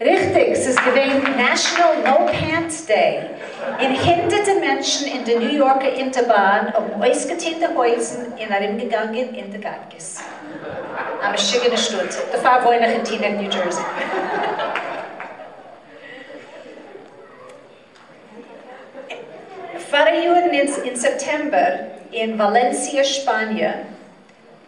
ריכטיג, ס'איז געווען נעשאנעל נאו פענטס דעי, און הונדערטע מענטשן אין די ניו יארקע אונטערבאן האבן אויסגעטון די הויזן און ארומגעגאנגען אין די גאטקעס. א משוגענע שטאט, דערפאר וואוין איך אין טינעק ניו דזשערסי. פאריאר אין סעפטעמבער אין וואלענסיע שפאניע.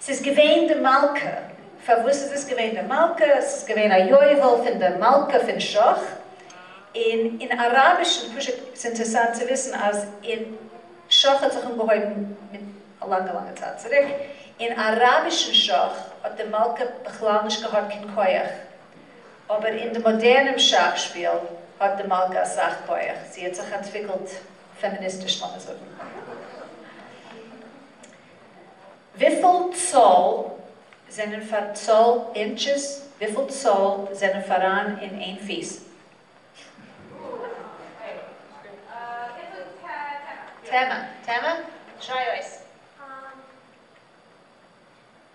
ס'איז געווען די מלכה. פארוואס איז עס געווען די מלכה? עס איז געווען א יובל פון די מלכה פון שכ. און אין אראבישן, פשוט ס'איז אינטערסאנט צו וויסן אז אין שכ האט זיך אנגעהויבן מיט א לאנגע לאנגע צייט צוריק, אין אראבישן שכ האט די מלכה בכלל נישט געהאט קיין כח, אבער אין די מאדערנעם שאך שפיל האט די מלכה אסאך כח, זי האט זיך אנטוויקלט פעמיניסטיש לאמיר זאגן. וויפיל צאל זענען פאר צאל אינטשעס? וויפיל צאל זענען פאראן אין איין פיס? טעמע, טעמע, טריי אויס.